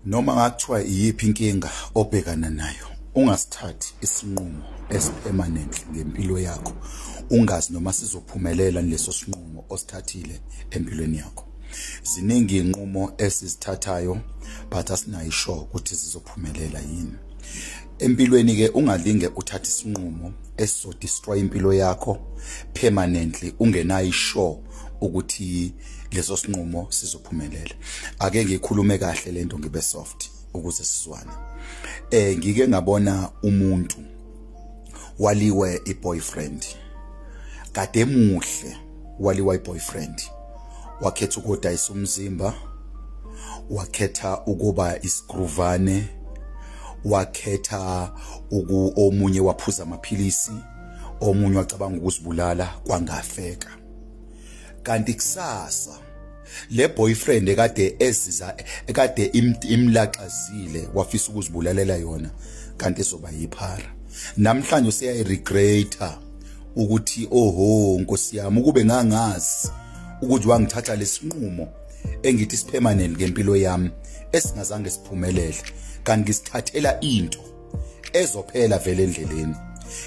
noma ngathiwa iyiphi inkinga obhekana nayo ungasithathi isinqumo esipermanent ngempilo yakho ungazi noma sizophumelela leso sinqumo osithathile empilweni yakho ziningi inqumo esizithathayo but asinayo isho ukuthi zizophumelela yini empilweni ke ungalinge uthathe isinqumo esizodestroy impilo yakho permanently ungenayo isho ukuthi leso sinqumo sizophumelela ake ngikhulume kahle lento ngibe soft ukuze sizwane eh ngike ngabona umuntu waliwe iboyfriend kade muhle waliwa iboyfriend wakhetha ukodayisa umzimba wakhetha ukuba isigruvane wakhetha uku omunye waphuza amaphilisi omunye wacabanga ukuzibulala kwangafeka kanti kusasa le boyfriend ekade eziza ekade imlaxazile wafisa ukuzibulalela yona kanti izoba yiphara namhlanje useyayiregreta ukuthi oho nkosi yami ukube ngangazi ukuthi wangithatha lesinqumo engithi sipermanent ngempilo yami esingazange siphumelele kanti ngisithathela into ezophela vele endleleni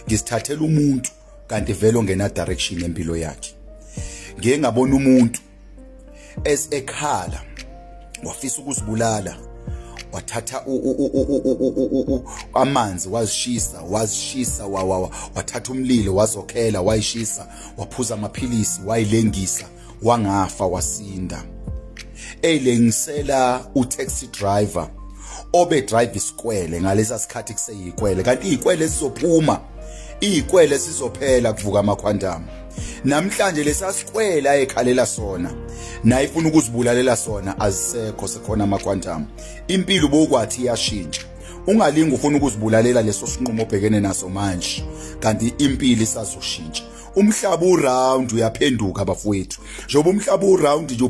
ngisithathela umuntu kanti vele ongena direction empilo yakhe ngeke ngabona umuntu as ekhala wafisa ukuzibulala wathatha amanzi wazishisa wazishisa wathatha umlilo wazokhela wayishisa waphuza amaphilisi wayilengisa wangafa wasinda eyilengisela utaxi driver obe drive isikwele ngalesa sikhathi kuseyikwele kanti izikwele sizophuma izikwele sizophela kuvuka amakhwantama namhlanje lesasikwele ayekhalela sona naye ifuna ukuzibulalela sona azisekho sekhona amakhwantama impilo bokwathi iyashintsha ungalingi ufuna ukuzibulalela leso sinqumo obhekene naso manje kanti impilo isazoshintsha umhlaba uround uyaphenduka bafowethu njengoba umhlaba uround nje